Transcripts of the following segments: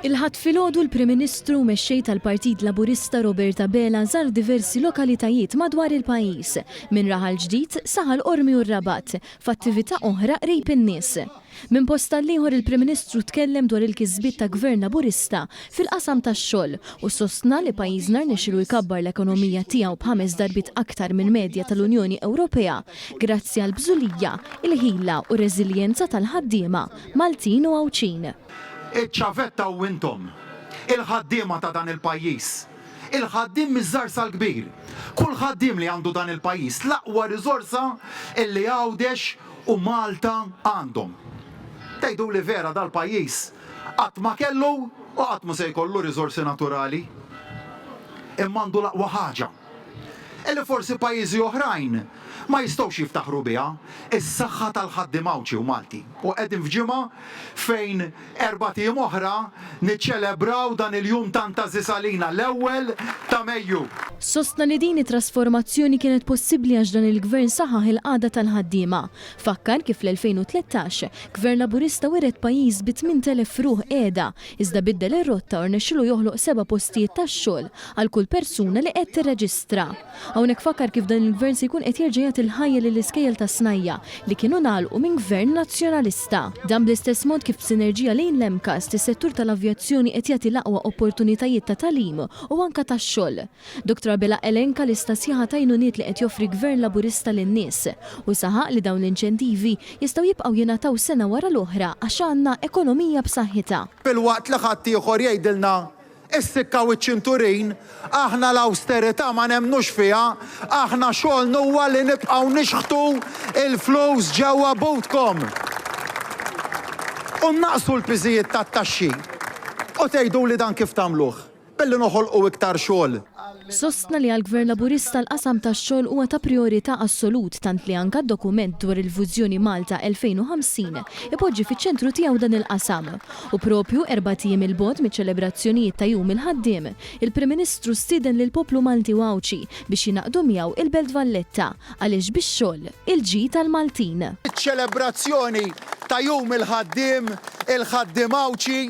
Il-Ħadd filgħodu l-Prim Ministru u Mexxej tal-Partit Laburista Robert Abela żar diversi lokalitajiet madwar il-pajjiż, minn Raħal Ġdid, Saħal Qormi u r-Rabat, f'attività oħra qrib in-nies. Minn post għall-ieħor il-Prim Ministru tkellem dwar il-kisbiet ta' Gvern Laburista fil-qasam tax-xogħol u sostna li pajjiżna rnexxielu jkabbar l-ekonomija tiegħu b'ħames darbiet aktar mill-medja tal-Unjoni Ewropea grazzi għall-bżulija, il-ħila u r-reżiljenza tal-ħaddiema Maltin u Għawdxin. Iċ-ċavetta u intom, il-ħaddiema ta' dan il-pajjiż, il-ħaddiem miż-żgħar sal-kbir, kull ħaddiem li għandu dan il-pajjiż, l-aqwa riżorsa li Għawdex u Malta għandhom. Tgħiduli vera dal-pajjiż qatt ma kellu u qatt mhu se jkollu riżorsi naturali? Imma għandu l-aqwa ħaġa. li forsi pajjiżi oħrajn ma jistgħux jiftaħru biha, is-saħħa tal-ħaddiem Għawdxi u Malti. U qegħdin f'ġimgħa fejn erbat ijiem oħra niċċelebraw dan il-jum tant għażiż għalina, l-ewwel ta' Mejju. Sostna li din it-trasformazzjoni kienet possibbli għax dan il-Gvern saħaħ il-qagħda tal-ħaddiema. Fakkar kif fl-2013, Gvern Laburista wiret pajjiż bi 8,000 ruħ qiegħda, iżda biddel ir-rotta u rnexxielu joħloq seba' postijiet tax-xogħol għal kull persuna li qed tirreġistra. Hawnhekk fakkar kif dan il-Gvern se jkun qed jerġa' jagħti l-ħajja lill-iskejjel tas-Snajja' li kienu ngħalqu minn Gvern Nazzjonalista. Dan bl-istess mod kif b'sinerġija lejn l-MCAST is-settur tal-avjazzjoni qed jagħti l-aqwa opportunitajiet ta' tagħlim u anke tax-xogħol. Dr Abela elenka lista sħiħa t'għajnuniet li qed joffri Gvern Laburista lin-nies u saħaq li dawn l-inċentivi jistgħu jibqgħu jingħataw sena wara l-oħra għax għandna ekonomija b'saħħitha. Filwaqt li ħaddieħor jgħidilna Issikkaw iċ-ċinturin, aħna l-awsterità ma nemmnux fiha, aħna xogħolna huwa li nibqgħu nixħtu l-flus ġewwa butkom u nnaqqsu l-piżijiet tat-taxxi. U tgħiduli dan kif tagħmluh? Billi noħolqu iktar xogħol. Sostna li għall-Gvern Laburista l-qasam tax-xogħol huwa ta' prijorità assolut tant li anke d-dokument dwar il-vużjoni Malta 2050 ipoġġi fiċ-ċentru tiegħu dan il-qasam. U proprju erbat ijiem 'il bogħod miċ-ċelebrazzjonijiet ta' Jum il-Ħaddiem, il-Prim Ministru stieden lill-poplu Malti u Għawdxi biex jingħaqdu miegħu il-Belt Valletta Għaliex bix-xogħol, il-ġid għall-Maltin. Iċ-ċelebrazzjoni ta' Jum il-Ħaddiem, il-Ħaddiem Għawdxi,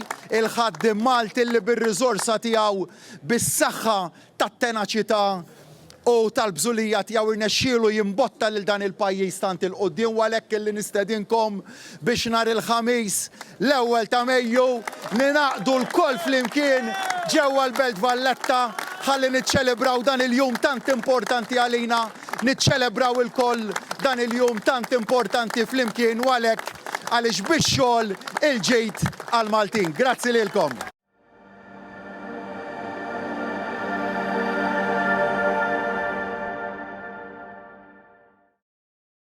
il-Ħaddiem Malti li bir-riżorsa tiegħu, bis-saħħa tat-tenaċità u tal-bżulija tiegħu rnexxielu jimbotta lil dan il-pajjiż tant 'il quddiem u għalhekk illi nistedinkom biex nhar il-Ħamis, l-ewwel ta' Mejju, ningħaqdu lkoll flimkien ġewwa l-Belt Valletta ħalli niċċelebraw dan il-jum tant importanti għalina, niċċelebraw ilkoll dan il-jum tant importanti flimkien u għalhekk għaliex bix-xogħol il-ġid għall-Maltin. Grazzi lilkom.